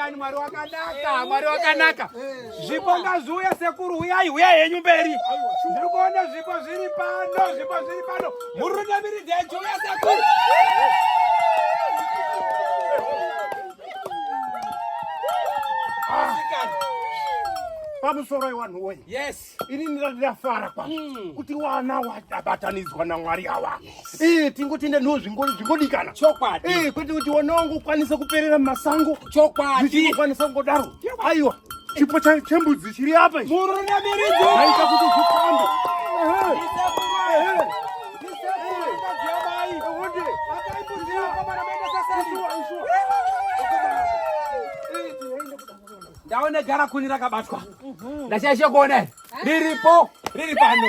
Mwari Mwari wakanaka, Mwari wakanaka. Zvipo ngazviuye sekuru, huyai huyai henyu mberi. Ndiri kuona zvipo zviri pano, zvipo zviri pano. Murunamiridzi yechiuya sekuru. pamusoro iwanhu woye yes ini ndinafara kwa mm. kuti wana wabatanidzwa namwari yawa yes. e, tingoti nenhu zvingodikana chokwadi e, kwete kuti wana wangu ukwanise kuperera mumasango chokwadi zvichikwanisa kungodaro aiwa chipo chembudzi chiri apa ichi murunamiridzo aita kuti zvitambe ndaone gara kuni rakabatwa ndashaishe kuona riripo riri pano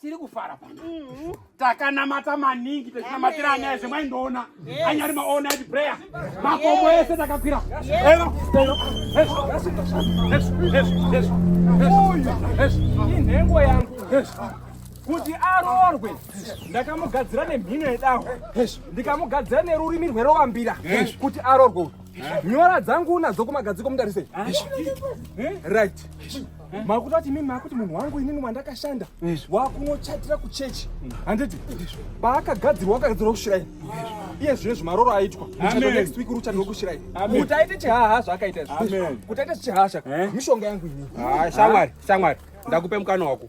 tiri kufara pano mm-hmm. takanamata maningi techinamatira anyaya zvemaindoona anyari maona ati prayer makomo ese takakwira inhengo yangu kuti aroorwe ndakamugadzira nemhino yedaho ndikamugadzira nerurimi rwerovambira kuti aroorwe nyora dzangu unadzo kumagadziko mudarisei right Eh? makutoti mimi makuti munhu wangu inini wandakashanda wakunochatira kuchechi mm. handiti paakagadzirwa akagadzirwa kushiraini iye zvine zvimaroro aitwa next week ruchatirwa kushiraini kuti aite chihaha zvaakaita kuti aite chihaha chaka eh? mishonga yangu inini ah, shamwari shamwari ndakupe mukana wako